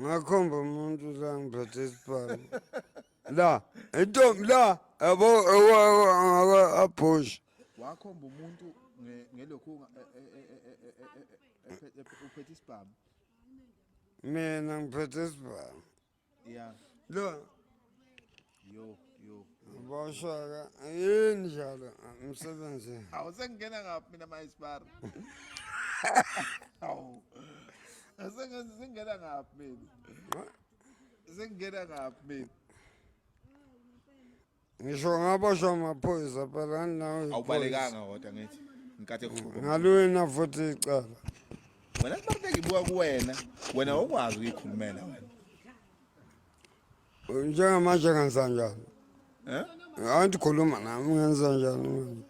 ngakhomba umuntu la ngiphethe isibhamu la intombi la yabo abhoshe wakhomba umuntu ngelokhu uphethe isibhamu mina ngiphethe isibhamu Yeah. Lo. Yo, yo. Boshaka, yini njalo umsebenzi? Awu sengena ngaphi mina mayisipara? Awu. Sengenza sengena ngaphi mina? Sengena ngaphi mina? ngisho ngaboshwa amaphoyisa phela andinawo iphoyisa. awubalekanga kodwa ngithi nkathi ekhuluma ngaliwina futhi icala wena kubaluleka ibuka kuwena wena awukwazi ukuyikhulumela wena njengamanje ngenza njani Eh? andikhuluma nami ngenza njani manje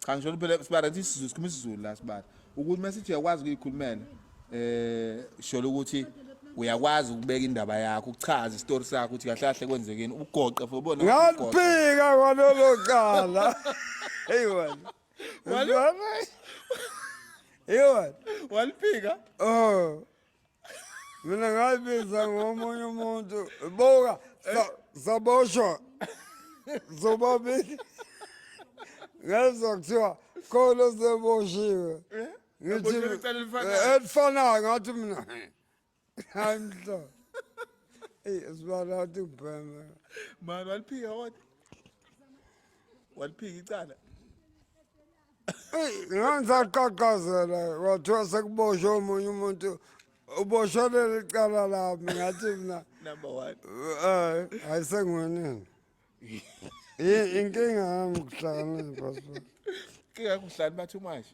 Cha ngisho phela sibara ukuthi isiZulu sikhuluma isiZulu la sibara. Ukuthi masithi uyakwazi ukuyikhulumela eh sholo ukuthi uyakwazi ukubeka indaba yakho ukuchaza isitori sakho ukuthi kahle kahle kwenzekeni ugoqe for ubona ngaphika kwalelo cala hey wena wena hey wena waliphika oh mina ngayibiza ngomunye umuntu buka saboshwa zobabili ngezwa kuthiwa khona oseboshiwe eh? ngithi eh, elifanayo ngathi mina hayi mhlo eyi esibala wathi ubheme mani waliphika wathi waliphika icala eyi ngangisaqaqazela kwathiwa sekuboshwe omunye umuntu uboshelele icala lami ngathi mina number one um hayi sengiwenini inkinga yami kuhlakaniphasipoti inkinga kuhlani bathumashe